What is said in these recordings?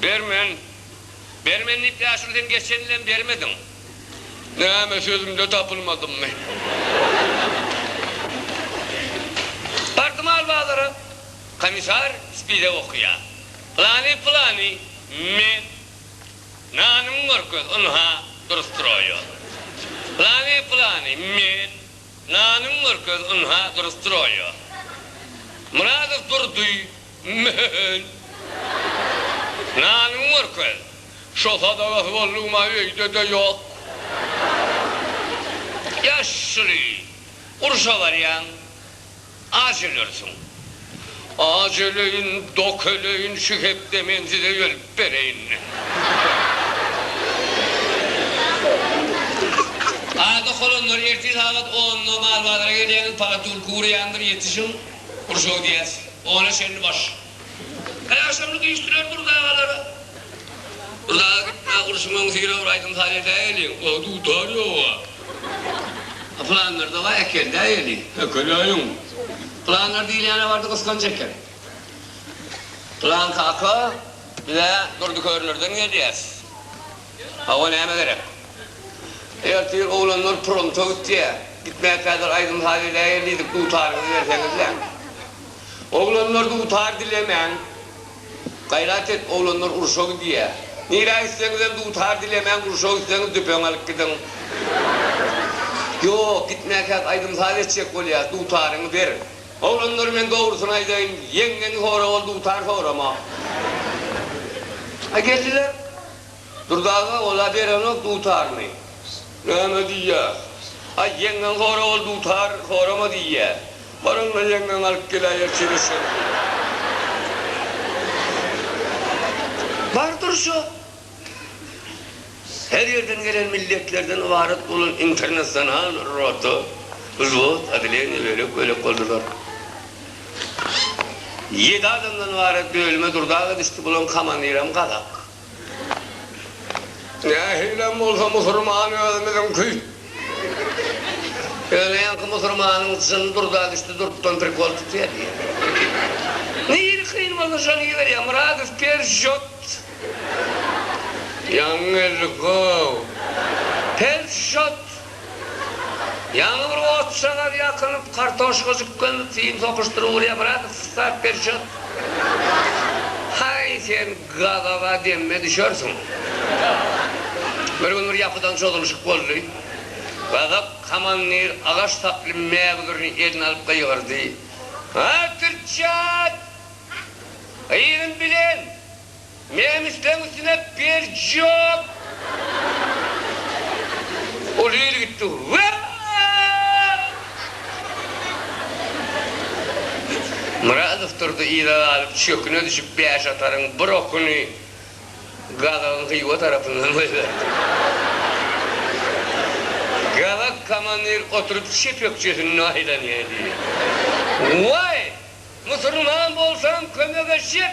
Bermen, bermen diýip Ýaşuly sen geçen ýylem bermediň. Näme sözümde tapylmadymmy? Bardym al bazara. Komissar spide okaýar. Pylany, pylany, men. Nanyňy görkez, ynha, dur stroýer. Pylany, pylany, men. Nanyňy görkez, ynha, dur stroýer. Myradow Durdy. Men. Nanyňy görkez. Şo sadagasy boldugym-a öýde-de ýok. Ýaşuly, urşa barýaň, aç ölersiň. Aç öleýin, dok öleýin, şu hepde men size ölüp bereýin. Aý, dok olanlar, ertir sagat onda Marbazara gelýäňiz, palatulka urýandyr, ýetişiň. Gurjaw diýýäs. Ona çenli baş. Her agşamlyk iş dürer Burda agalara. Burda aga gitme, urşuň öňüsyrä bir aýdym-saz edäýeliň. A dutar ýoga. A planlar da bar, äkeldäýeliň. Äkeläýiň. Planlar diýilýän-ä bardy gysganç eken. Plan kaka, biz-ä Durdy Körnerden gelýäs. Hawa näme gerek. Ertir oglanlar promta gitýä. Gitmä kädir aýdym saz edäýeli diýdik dutaryňyzy berseňizläň. Oglanlar dutar dilemäň. Gaýrat et oglanlar urşa gidýä. Nirä gitseňizem dutar dilemäň urşa gitseňiz düpeňi alyp gidiň. Ýok gitmäkäk aýdym saz etjek bolýas dutaryňy ber. Oglanlar men dogrusyny aýdaýyn ýeňňeňi sora ol dutar sorama. A geldiler. Durdy aga, ol-a berenok dutaryny. Näme diýýä? Aý, ýeňňeň hora ol dutar horama diýýä. Baryň-da ýeňňeňi alyp geläýer şeýle şert bilen. Bar durşa. Her ýerden gelen milletlerden ybarat bolan internasional rota, wzwod, oddeleniýe bölek-bölek boldular. Ýedi adamdan ybarat bölüme durdaga düşdi, bularyň komandirem gazak. Nähilem bolsa musurman özümiziňki. Ýöne ýaňky musurmanyň jyny durda düşdi, durkdan prikol tutýar diýýär. Nirä kyn bolsa şony iberýär, Myradow persjot. Ýaňy geldik-ow. Persjot! Ýaňy bir ot şagal ýakylyp, kartoşka jüklenip, film sokyşdyryp urýar, brat, start ber çöz. Haý, sen gazaga demme düşersiň. Bir gün bir ýapydan çozulyşyk boldy. Gazak komandir agaç saply mägüzürini eline alyp gygyrdy, Artyrjat! Gyzyň bilen! Menem isleň üstüne berjok. Uly il gitdi. Myradow turdy yza galyp çöküne düşüp bäş ataryň bir okuny Gazagyň Hywa tarapyndan goýberdi. Gazak komandir oturyp çep ökjesinde aýlanýa diýdi. Waý! Musurman bolsaň kömege çek!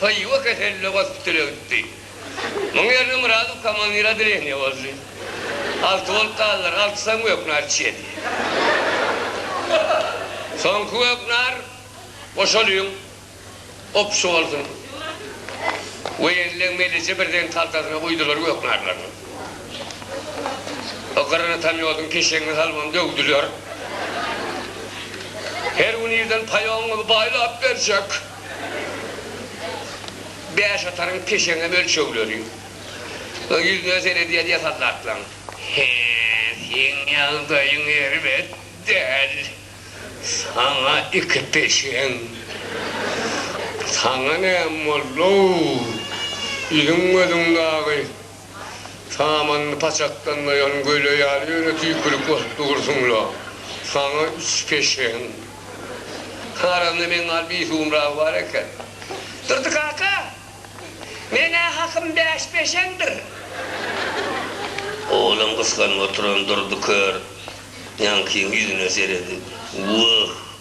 Hywa keseller gospitale gitdi. Muň ýerine Myradow komandir odeleniýa boldy. Alty bolup galdylar. Altysyam gök nar içýedi. Soňky gök nar goşalyň opşy bolsun. Woýenleň meleje birden haltasyna guýdular gök narlaryny. O granatameodyň keşeňine salybam döwdüler. Her gün irden paýoň gyby baýlap berjek. Bäş ataryň peşeňňe ölçegleri. Ýüzüne seredýän ýasan zatlaň. Hä, seň ýagdaýyň erbet däl. Saňa iki peşeň. Saňa näme boldy-ow? Ýüzüň-gözüň dagy Samanyny paçakdan doýan göle ýaly ýöne tüýkülik bosup dursuň-la. Saňa üç peşeň. Aramda meň gal bisuwumragy bar eken. Durdy kaka, men-ä hakym bäş peşeňdir. Oglum gysganyp oturan Durdy kör Ýankyň ýüzüne seredip, Wah,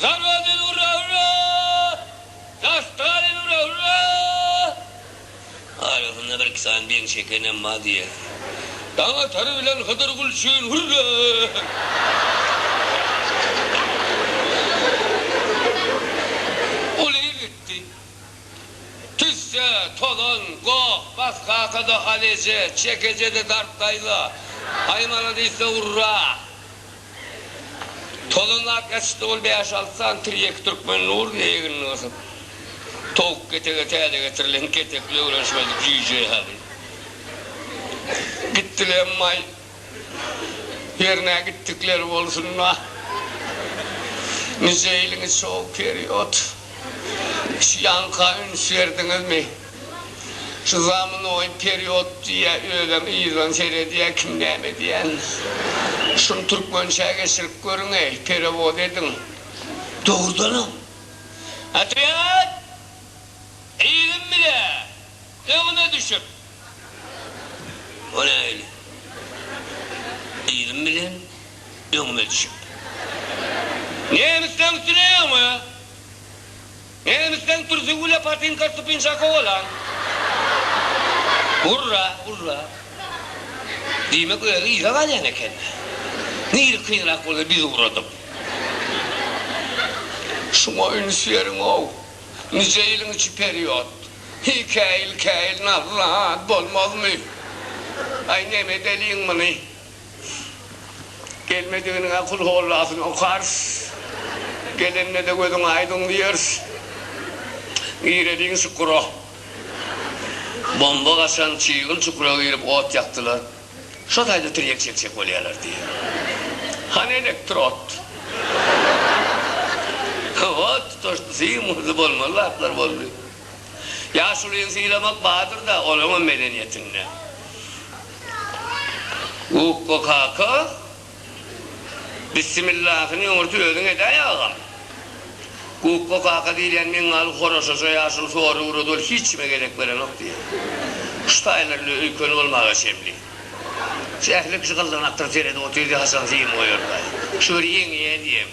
Zarba dil urra urra Daş Stalin urra urra Arasynda bir iki sany beýik çekenem bar diýýär. Daň atar bilen Hydyr Gulçin hürre! Uly ýigitdi. Tüsse, tozan, goh, bas kakada hal eje, çek eje-de dart daýza, haýmala diýse urra! Tozanlap ýatyşdy ol bäş-alty sany tirýek türkmen nuruny egnine gysyp. Towuk ketege täze getirilen ketekli öwrenişmedik jüýje ýaly. Gitdilemmaý. Ýerine gitdikleri bolsun-da. Nijeýliňiz şo-u period? Şu ýaňka üns berdiňizmi? Şu zamynoý period diýýä özem yzdan seredýä kim näme edýän. Şuny türkmençä geçirip görüňeý, perewod ediň. Dogrudanam. Otrýad! Yzym bile! Öňüme düşüp! O nähili? Yzym bilen öňüme düşüp. Nemisleň üstüne öňe! Nemisden Pürsügüle Patinka Stupinçako bolan. Urra, urra. Diýmek özi yza galýan eken. Nirä kynrak bolsa biz ugradyk. Şuňa üns beriň-ow. Nije ýylyň içi period. Hikaýyl-käýil nazly zat bolmazmy? Aý, nemedeliň muny? Gelmediginiňe kul hollasyny okarys. Gelende-de gözüň aýdyň diýeris. Gireliň çukura. Bomba gaçan çyýgyn çukura girip ot ýakdylar. Şo taýda tirýek çekjek bolýarlar diýýär. Hany elektrod? Ot tutaşdy, syn urdy, bolmaly zatlar boldy. Ýaşulyny sylamak bardyr-da, olaňam medeniýetinde. Gukga kaka bissimillahyny öňürti özüň edäý agam. Gukga kaka diýilýän meňňaly horaşaja ýaşuly sory ugrady ol hiç kime gezek berenok diýýä. Şu taýlar öli öýkeni bolmaga çemli. Şu ähli kişi gyzlygyna aktyr seredip otyrdy haçan film goýarkaý. Şu bir ýeňýä diýem.